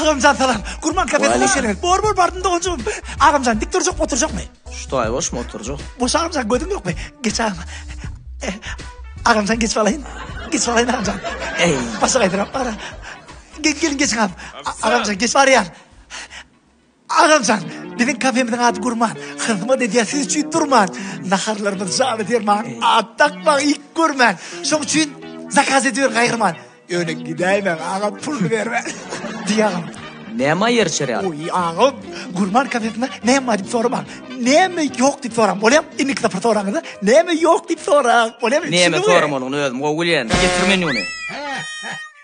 Agamjan salam. Gurban kafesine Waleýkim. şerelet. Bor bor bardym doganjygym. Agamjan dik durjak oturjakmy? Что, ay boş mu oturjak? Boş agamjan gödüm ýokmy? Geç agam. Eh, Agamjan geç balaýyn. Geç balaýyn agamjan. Ey. Başa gaýdyram bara. Gel gelin geç agam. A- Agamjan geç barýar. Agamjan, biziň kafemiziň ady Gurman. Hyzmat edýär siz üçin durman. Naharlarymyz jana derman, at dakmaň, it görmän. Şoň üçin zakaz ediberiň gaýgyrman. Ýöne gidäýmäň agam, pul bermän, diý agam. Näme ýer çörek? Oý, agam, Gurman kafesinde näme bar diýip soramaň. Näme ýok diýip soraň, bolýamy? Indiki sapar soraňyzda, näme ýok diýip soraň, bolýamy? Näme soramalyny özüm gowy bilýän. Getir menýuny.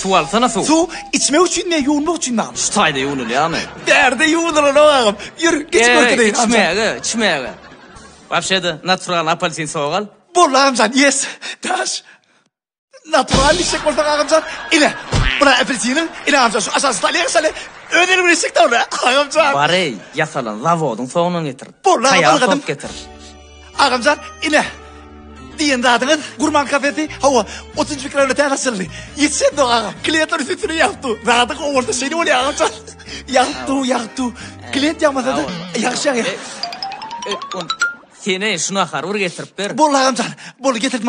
Suw alsana suw. Suw içmek üçinmi ýa ýuwunmak üçinmi agam? Şu taýda ýuwunylýarmy? Bärde ýuwunylanok agam. Ýör, geçip görkezeýin agam. Içmäge, içmäge. Wapşe-de, naturalny apelsin sogy al. Boldy agamjan, ýes. Daş. Naturalny içjek bolsaň agamjan, ine, bula apelsiniň, ine agamjan, şu aşaky stolýa sal, öz elim bilen içjek-dä ony, agamjan. Bar-eý, ýasalan zawodyň sogyny getir. Boldy agam, algadym. Taýar sok getir. Agamjan ine diýen zadyňyz gurman kafesi hawa 30 mikroda täze açyldy. Ýetişen dog aga. Kliýentler üstüne ýapdy. Zady gowursa şeýle bolýar agamjan. Ýapdy, ýapdy. Kliýent ýamasa da ýagşy ýagýar. Seni şuna harur getirip ber. Bol agamjan. Bol getirdim.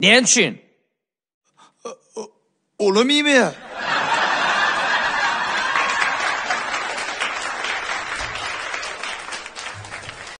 Näme üçin? Olam iýmeýär.